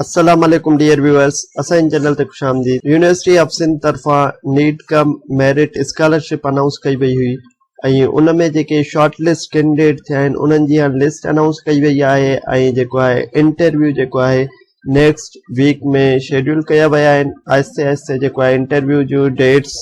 السلام عليڪم dear viewers اسان جي چينل تي خوش آمديد يونيورسٽي آف سنڌ طرفان need cum merit scholarship announce ڪئي وئي هئي ۽ ان ۾ جيڪي شارٽ لسٽ ڪينڊيڊيٽ ٿيا آهن انهن جي هاڻي لسٽ انائونس ڪئي وئي آهي ۽ جيڪو آهي انٽرويو جيڪو آهي نيڪسٽ ويڪ ۾ شيڊيول ڪيا ويا آهن آهستي آهستي جيڪو آهي انٽرويو جو ڊيٽس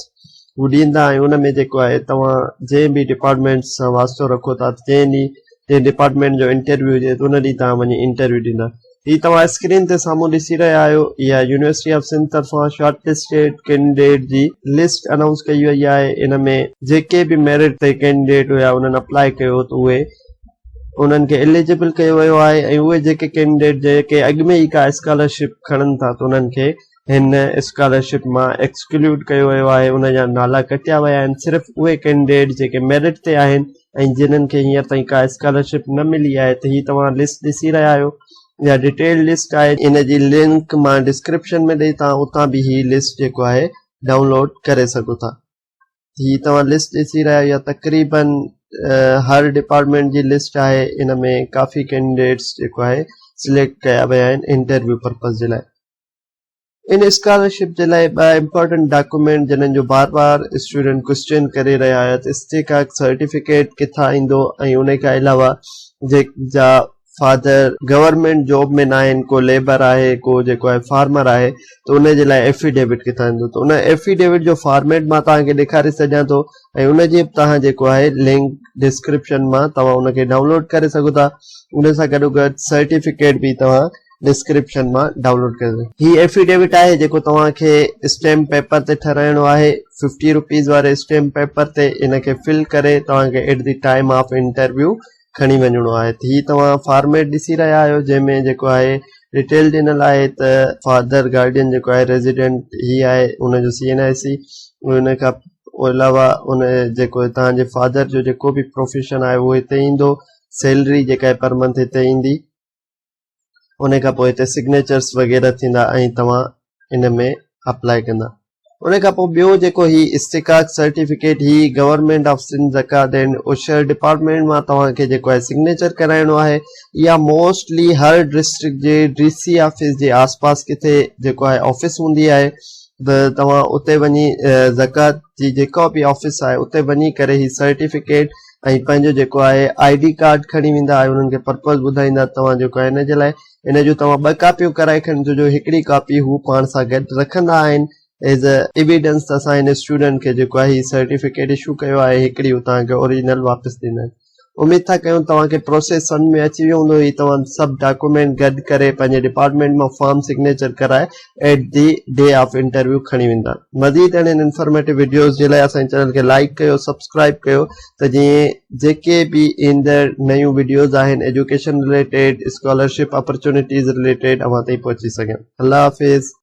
هو ڏيندا ۽ ان ۾ جيڪو آهي توهان جنهن به ڊپارٽمنٽ سان واسطو رکو ٿا جنهن ڏينهن جنهن ڊپارٽمنٽ جو انٽرويو هجي ان ڏينهن توهان وڃي انٽرويو ڏيندا هي توهان اسڪرين تي سامهون ڏسي رهيا آهيو اها يونيورسٽي آف سنڌ طرفان شارٽ لسٽيڊ ڪينڊيڊيٽ جي لسٽ انائونس ڪئي وئي آهي ان ۾ جيڪي به ميرٽ تي ڪينڊيڊيٽ هيا انهن اپلاء ڪيو ته اهي انهن کي اليجبل ڪيو ويو آهي ۽ اهي جيڪي ڪينڊيڊيٽ جيڪي اڳ ۾ ئي ڪا اسڪالرشپ کڻن ٿا ته انهن کي هن اسڪالرشپ مان ايڪسڪلوڊ ڪيو ويو آهي ان جا نالا ڪٽيا ويا آهن صرف اهي ڪينڊيڊيٽ جيڪي ميرٽ تي آهن ۽ جنهن کي هينئر تائين ڪا اسڪالرشپ نه ملي آهي ته هي توهان لسٽ ڏسي رهيا آهيو اها ڊيٽيلڊ لسٽ آهي ان جي لنڪ مان ڊسڪرپشن ۾ ڏئي توهان اتان به هي لسٽ جيڪو آهي ڊائونلوڊ ڪري سگهو ٿا هي توهان لسٽ ڏسي رهيا آهيو تقريبن هر ڊپارٽمنٽ جي لسٽ آهي ان ۾ ڪافي ڪينڊيڊيٽس جيڪو آهي سليڪٽ ڪيا ويا آهن انٽرويو پرپز جي لاء ان اسڪالرشپ جي لاء ٻه امپارٽنٽ ڊاڪومينٽ جنھن جو بار بار اسٽوڊنٽ ڪوسچين ڪري رهيا هيا ته استحقاق سرٽيفڪيٽ ڪٿان ايندو ۽ ان کان علاوه جيڪ جا فادر گورنمينٽ جاب ۾ ناهن ڪو ليبر آهي ڪو جيڪو آهي فارمر آهي ته ان جي لاء ايفيڊيوٽ ڪٿان ايندو ته ان ايفيڊيوٽ جو فارميٽ مان توهان کي ڏيکاري سگهيان ٿو ۽ ان جي به توهان جيڪو آهي لنڪ ڊسڪرپشن مان توهان ان کي ڊائونلوڊ ڪري سگهو ٿا ان سان گڏو گڏ سرٽيفڪيٽ به توهان ڊسڪرپشن مان ڊائونلوڊ ڪري سگهجي ٿي هي افيڊيوٽ آهي جيڪو توهان کي اسٽيمپ پيپر تي ٺهرائڻو آهي ففٽي روپيز واري اسٽيمپ پيپر تي ان کي فل ڪري توهان کي at the time of interview کڻي وڃڻو آهي ته هي توهان فارميٽ ڏسي رهيا آهيو جنهن ۾ جيڪو آهي ڊيٽيل ڏنل آهي ته فادر گارڊين جيڪو آهي ريزيڊنٽ هي آهي ان جو سي اين آء سي ان کان علاوه ان جيڪو تان جي فادر جو جيڪو به پروفيشن آهي اهو هتي ايندو سيلري جيڪا پر منٿ هتي ايندي ان کان پوء هتي سگنيچرس وغيره ٿيندا ۽ توهان ان ۾ اپلائي ڪندا ان کان پوء ٻيو جيڪو هي استقاق سرٽيفڪيٽ هي government of Sindh زڪات and Ushr department مان توهان کي جيڪو آهي سگنيچر ڪرائڻو آهي يا موسٽلي هر ڊسٽرڪٽ جي ڊي سي آفيس جي آس پاس ڪٿي جيڪو آهي آفيس هوندي آهي توهان اتي وڃي زڪات جي جيڪا به آفيس آهي اتي وڃي ڪري هي سرٽيفڪيٽ ۽ پنهنجو جيڪو آهي آئي ڊي ڪارڊ کڻي ويندا ۽ انهن کي پرپز ٻڌائيندا توهان جيڪو آهي ان جي لاء ان جون توهان ٻه ڪاپيون ڪرائي کڻي اچو جو هڪڙي ڪاپي هو پاڻ سان گڏ رکندا آهن ايز اي ايويڊنس ته اسان هن اسٽوڊنٽ کي جيڪو آهي هي سرٽيفڪيٽ اشو ڪيو آهي هڪڙي هو توهان کي اوريجنل واپس ڏيندن اميد ٿا ڪيون توهان کي پروسيس سمجھ ۾ اچي ويو هوندو هي توهان سڀ ڊاڪومينٽ گڏ ڪري پنهنجي ڊپارٽمينٽ مان فارم سگنيچر ڪرائي at the day of interview کڻي ويندا مزيد اهڙين انفارميٽو وڊيوز جي لاء اسان جي چينل کي لائڪ ڪيو سبسڪرائب ڪيو ته جيئن جيڪي به ايندڙ نيون وڊيوز آهن education related scholarship opportunities related اوهان تائين پهچي سگهن الله حافظ